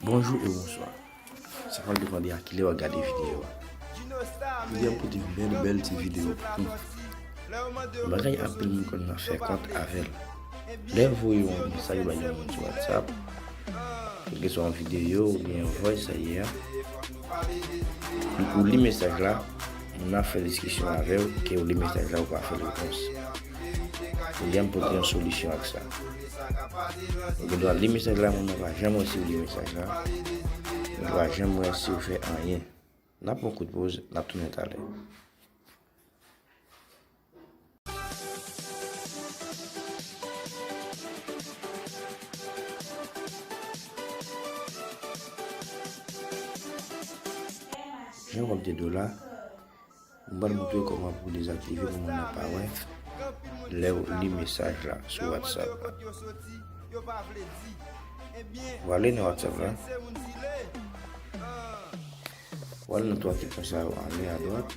Bonjou e bonswa. Sa pa depande a kilè wap gade videyo a. Jodi a m pote yon bèl bèl ti videyo pou nou. Yon bagay anpil moun konn nan fè kont avè l. Lè yo voye yon mesaj bay yon moun sou whatsapp, kèlke swa yon videyo oubyen yon voice sa ye a, ou li mesaj la, moun nan ap fè diskisyon avè w, ke ou li mesaj la ou pa fè l repons. Pou janm pote yon solisyon ak sa. Ou gen dwa li mesaj la men mwen pa janm wè si ou li mesaj la. Mwen pa janm wè si ou fè anyen. N ap pran kout poz, n ap tounen talè. Jan w ap de dola. M pral montre w kòman pou w dezaktive pou moun nan pa wè lè w li mesaj la sou whatsapp la. W ale nan whatsapp la. W ale nan 3 fèktyon sa yo anlè a dwat.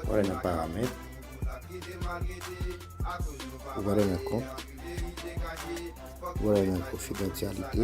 W ale nan paramèt. W ale nan kont. W ale nan konfidantyalite.